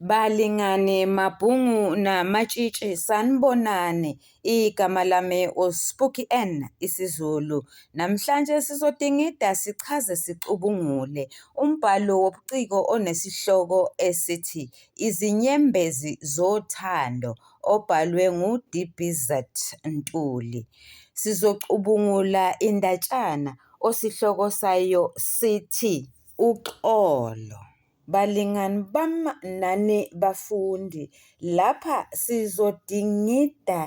Balingani Mabhungu naMatshitshi sanibonani igama lami uSpooky Ann isiZulu. Namhlanje sizodingida sichaze sicubungule umbhalo wobuciko onesihloko esithi Izinyembezi Zothando obhalwe nguDBZ Ntuli. Sizocubungula indatshana osihloko sayo sithi Uxolo. Balingani bam nani bafundi, lapha sizodingida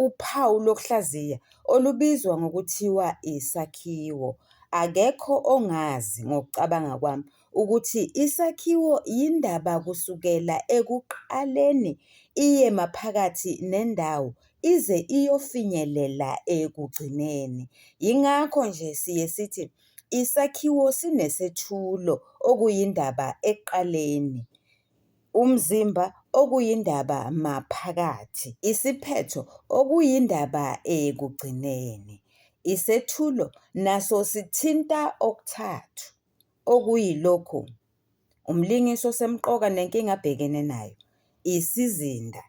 uphawu lokuhlaziya olubizwa ngokuthiwa isakhiwo. Akekho ongazi ngokucabanga kwami ukuthi isakhiwo yindaba kusukela ekuqaleni iye maphakathi nendawo ize iyofinyelela ekugcineni. Yingakho nje siye sithi Isakhiwo sinesethulo, okuyindaba ekuqaleni, umzimba, okuyindaba maphakathi, isiphetho, okuyindaba ekugcineni. Isethulo naso sithinta okuthathu, okuyilokhu. Umlingisi osemqoka nenkinga abhekene nayo isizinda,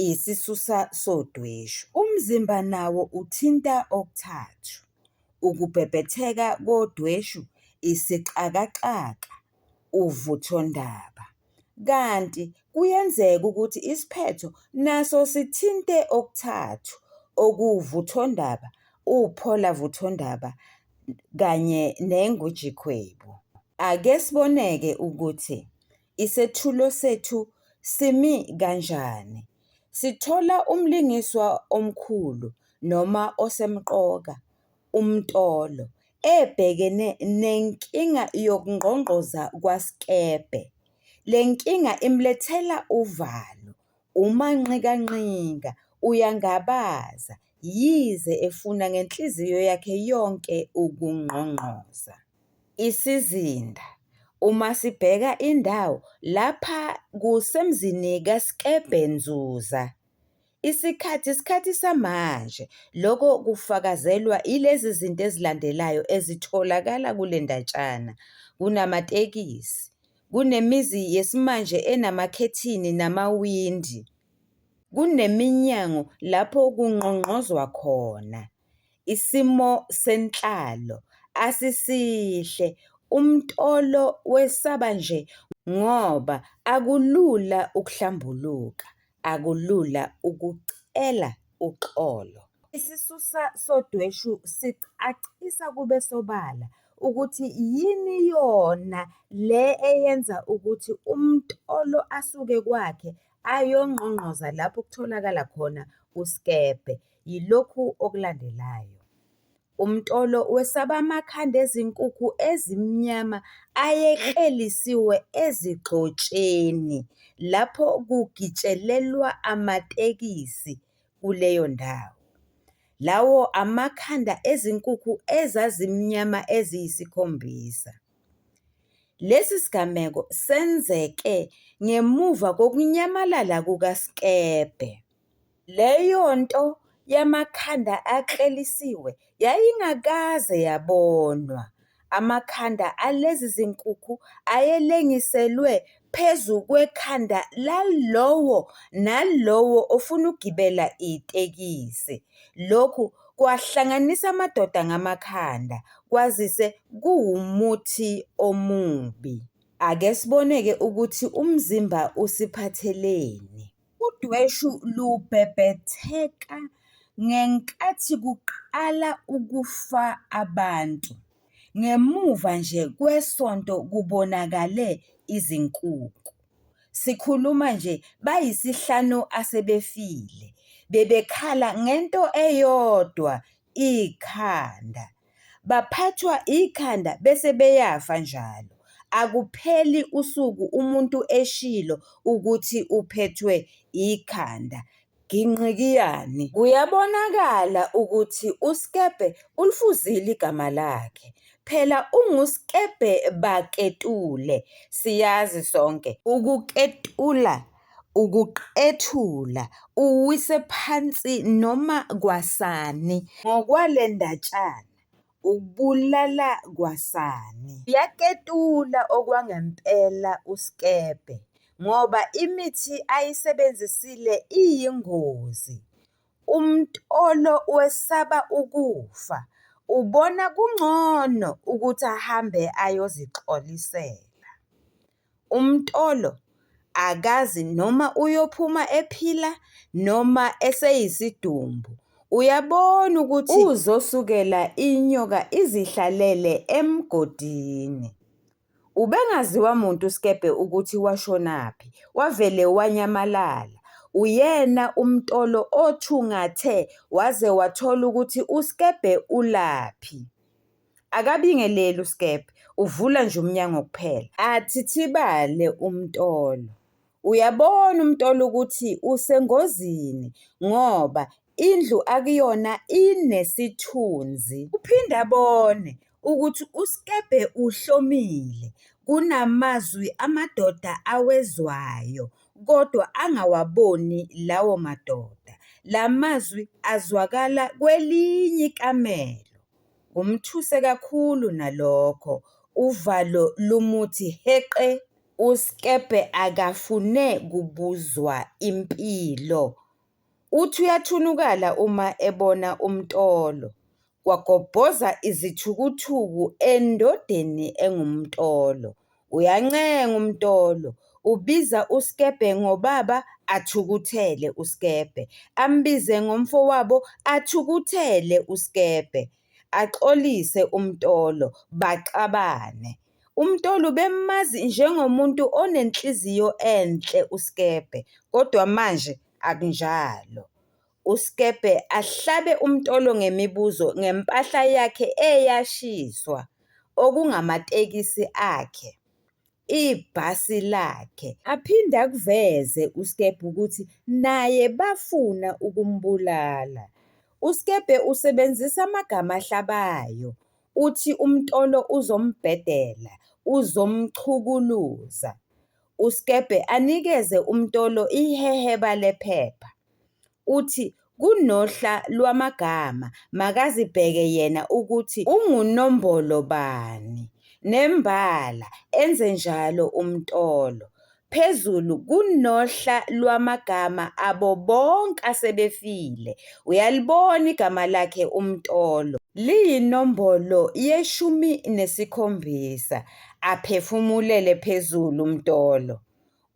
isisusa sodweshu. Umzimba nawo uthinta okuthathu, ukubhebhetheka kodweshu, isixakaxaka, uvuthondaba. Kanti kuyenzeka ukuthi isiphetho naso sithinte okuthathu okuwuvuthondaba, upholavuthondaba kanye nenguJikhwebu. Ake siboneke ukuthi isethulo sethu simi kanjani. Sithola umlingiswa omkhulu noma osemqoka, uMtolo, ebhekene nenkinga yokungqongqoza kwaSkebhe. Le nkinga imlethela uvalo Umanqikanqika uyangabaza yize efuna ngenhliziyo yakhe yonke ukungqongqoza. Isizinda, Uma sibheka indawo, lapha kusemzini kaSkebhe Nzuza. Isikhathi, Isikhathi samanje. Lokho kufakazelwa yilezi zinto ezilandelayo ezitholakala kule ndatshana, Kunamatekisi. Kunemizi yesimanje enamakhethini namawindi. Kuneminyango lapho kungqongqozwa khona. Isimo senhlalo asisihle, uMtolo wesaba nje ngoba akulula ukuhlambuluka. akulula ukucela uxolo. Isisusa sodweshu sicacisa kube sobala ukuthi yini yona le eyenza ukuthi umtolo asuke kwakhe ayongqongqoza lapho kutholakala khona usikebhe, yilokhu okulandelayo. Umtolo wesaba amakhanda ezinkukhu ezimnyama ayeklelisiwe ezigxotsheni lapho kugitshelelwa amatekisi kuleyo ndawo. Lawo amakhanda ezinkukhu ezazimnyama eziyisikhombisa. Lesi sigameko senzeke ngemuva kokunyamalala kukaSkebhe. Leyonto yamakhanda aklelisiwe yayingakaze yabonwa. Amakhanda alezi zinkukhu ayelengiselwe phezu kwekhanda lalowo nalowo ofuna ukugibela itekisi. Lokhu kwahlanganisa amadoda ngamakhanda kwazise kuwumuthi omubi. Ake sibone-ke ukuthi umzimba usiphatheleni. Udweshu lubhebhetheka ngenkathi kuqala ukufa abantu, ngemuva nje kwesonto kubonakale izinkukhu. Sikhuluma nje bayisihlanu asebefile, bebekhala ngento eyodwa ikhanda. Baphathwa ikhanda bese beyafa njalo. Akupheli usuku umuntu eshilo ukuthi uphethwe ikhanda. Ginqikiyani. Kuyabonakala ukuthi uSkebhe ulifuzile igama lakhe. Phela unguSkebhe baKetule. Siyazi sonke ukuketula ukuqethula, uwise phansi noma kwasani. Ngokwale ndatshana, ukubulala kwasani. Uyaketula okwangempela uSkebhe ngoba imithi ayisebenzisile iyingozi. UMtolo wesaba ukufa, ubona kungcono ukuthi ahambe ayozixolisela. UMtolo akazi noma uyophuma ephila noma eseyisidumbu. Uyabona ukuthi uzosukela inyoka izihlalele emgodini. Ubengaziwa muntu uSkebhe ukuthi washonaphi, wavele wanyamalala. Uyena uMtolo othungathe waze wathola ukuthi uSkebhe ulaphi. Akabingeleli uSkebhe, uvula nje umnyango kuphela. Athithibale uMtolo. Uyabona uMtolo ukuthi usengozini ngoba indlu akuyona inesithunzi. Uphinde abone ukuthi uSkebhe uhlomile, kunamazwi amadoda awezwayo kodwa angawaboni lawo madoda. La mazwi azwakala kwelinye ikamelo. Kumthuse kakhulu nalokho, uvalo lumuthi heqe. USkebhe akafune kubuzwa impilo. Uthi uyathunukala uma ebona uMtolo. Kwagobhoza izithukuthuku endodeni engumtolo. Uyancenga uMtolo, ubiza uSkebhe ngobaba athukuthele uSkebhe, ambize ngomfowabo athukuthele uSkebhe, axolise uMtolo, baxabane. UMtolo ubemazi njengomuntu onenhliziyo enhle uSkebhe kodwa manje akunjalo. uSkebhe ahlabe umtolo ngemibuzo ngempahla yakhe eyashiswa okungamatekisi akhe, ibhasi lakhe. Aphinde akuveze uSkebhe ukuthi naye bafuna ukumbulala. USkebhe usebenzisa amagama ahlabayo, uthi umtolo uzombhedela, uzomchukuluza. USkebhe anikeze umtolo iheheba lephepha. uthi kunohla lwamagama makazibheke yena ukuthi ungunombolo bani nembala enze njalo umtolo. Phezulu kunohla lwamagama abo bonke asebefile. Uyalibona igama lakhe umtolo. Liyinombolo yeshumi nesikhombisa. Aphefumulele phezulu umtolo.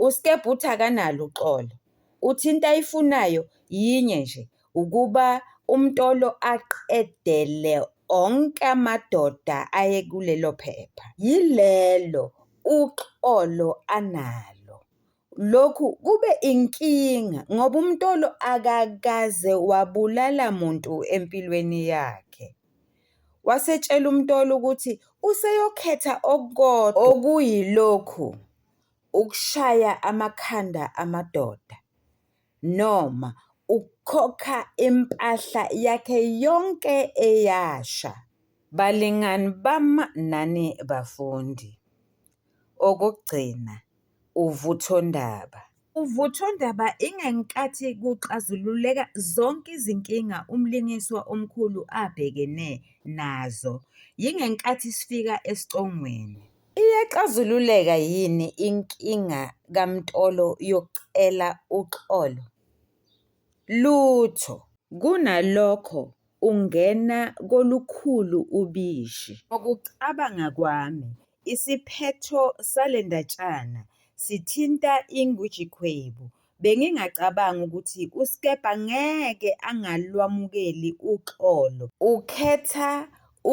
USkebhuthi akanalo uxolo, uthi into ayifunayo yinye nje ukuba uMtolo aqedele onke amadoda ayekulelo phepha. Yilelo uxolo analo. Lokhu kube inkinga ngoba uMtolo akakaze wabulala muntu empilweni yakhe. Wasetshela uMtolo ukuthi useyokhetha okukodwa okuyilokhu ukushaya amakhanda amadoda noma ukukhokha impahla yakhe yonke eyasha. Balingani bami nani bafundi. Okokugcina, uvuthondaba. Uvuthondaba ingenkathi kuxazululeka zonke izinkinga umlingiswa omkhulu abhekene nazo. Yingenkathi sifika esicongweni. Iyaxazululeka yini inkinga kaMtolo yokucela uxolo? Lutho! Kunalokho ungena kolukhulu ubishi. Ngokucabanga kwami isiphetho sale ndatshana sithinta iNgwijikhwebu Bengingacabangi ukuthi uSkebha ngeke angalwamukeli uxolo. Ukhetha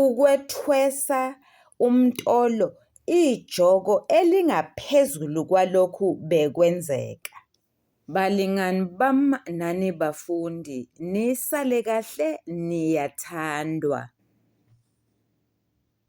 ukwethwesa uMtolo ijoko elingaphezulu kwalokhu bekwenzeka. Balingani bam nani bafundi nisale kahle niyathandwa.